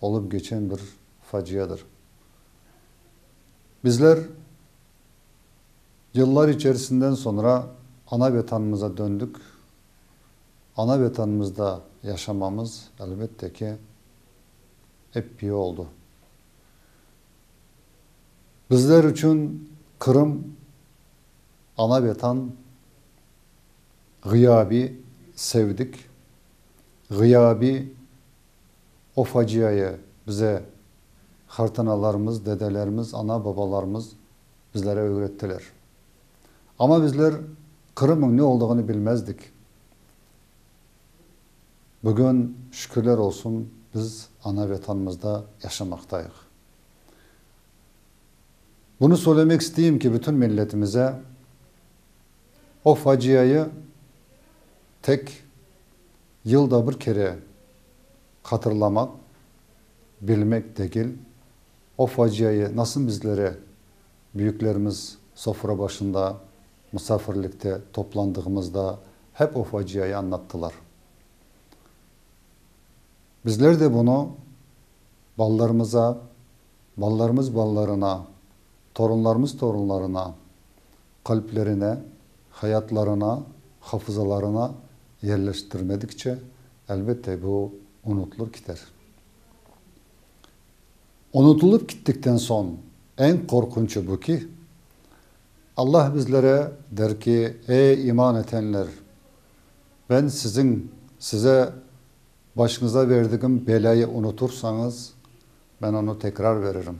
olıp geçen bir faciadır. Bizler yıllar içerisinden soñra ana Vetanımıza döndük. Ana Vetanımızda yaşamamız, elbette ki, ep piy oldu. Bizler içün Qırım, ana Vetan, ğıyabiy sevdik, ğıyabiy O faciaye bize qartanalarımız, dedelerimiz, ana-babalarımız bizlere ögrettiler. Amma bizler Qırım'ın ne olduğını bilmezdik. Bugün, şükürler olsun, biz ana Vetanımızda yaşamaqtayıq. Bunı söylemek isteyim ki, bütün milletimize, o faciayı tek Yılda bir kere hatırlamaq, bilmek degil, o faciayı nasıl bizlere büyüklerimiz sofra başında, musafirlikte toplandığımızda hep o faciayı anlattılar. Bizler de bunı balalarımıza, Balalarımız balalarına, torunlarımız torunlarına, qalplerine, hayatlarına, hafızalarına yerleştirmedikçe, elbette, bu unutılır kiter. Unutılıp kittikten soñ, eñ qorqunçı bu ki, Allah bizlere der ki, Ey, iman etenler! Ben siziñ, size başıñıza verdigim belâyı unutursañız, Men onı tekrar veririm.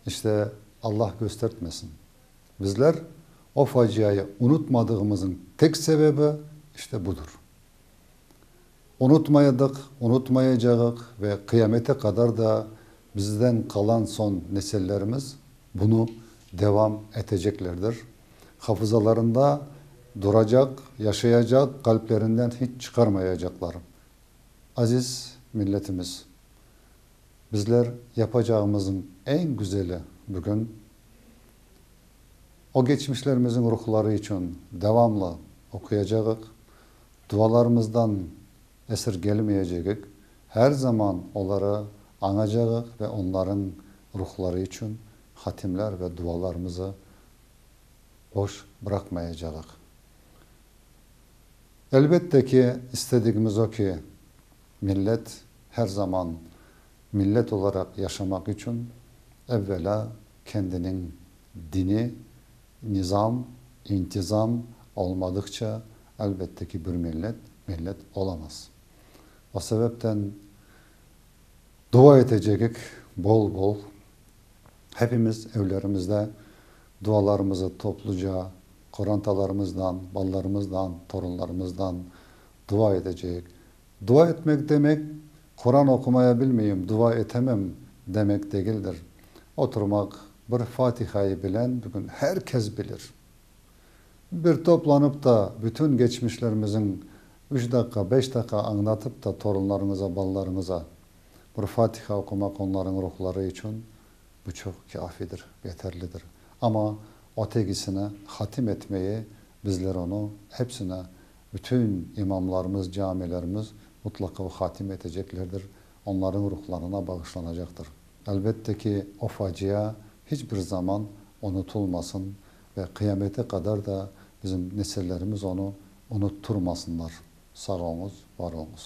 İşte, Allah köstertmesin. Bizler o faciayı unutmadığımızıñ tek sebebi, işte, budır. Unutmay edik, unutmayacağıq ve qıyamete qadar da bizden qalan soñ nesillerimiz bunı devam eteceklerdir. Hafızalarında duracaq, yaşayacaq, qalplerinden hiç çıqarmayacaqlar. Aziz milletimiz, bizler yapacağımızıñ eñ güzeli bugün, o geçmişlerimiziñ ruhları içün devamlı oquyacağıq, dualarımızdan esirgelmeyecegik, her zaman oları añacağıq ve onlarıñ ruhları içün hatimler ve dualarımızı boş bıraqmayacağıq. Elbette ki, istedigimiz o ki, millet her zaman millet olaraq yaşamaq içün evvelâ kendiniñ dini, nizam, intizam olmadıqça, elbette ki, bir millet millet olamaz. O sebepten dua etecegik bol-bol. Hepimiz evlerimizde Dualarımızı topluca, qorantalarımızdan, balalarımızdan, torunlarımızdan dua etecek. Dua etmek demek, Quran oqumaya bilmeyim, dua etemem demek degildir. Oturmaq, bir Fatihayı bilen bugün her kes bilir. Bir toplanıp da, bütün geçmişlerimiziñ üç daqqa, beş daqqa añlatıp da torunlarıñıza, balalarıñıza bir Fatiha oqumaq onlarıñ ruhları içün Bu çoq kâfidir, yeterlidir. Amma ötegisini hatim etmeye bizler onı hepsine, bütün imamlarımız, camilerimiz mutlaqa hatim eteceklerdir, onlarıñ ruhlarına bağışlanacaqtır. Elbette ki, o facia hiç bir zaman unutulmasın ve qıyamete qadar da bizim nesillerimiz onı unutturmasınlar. Sağ oñuz, var oñuz.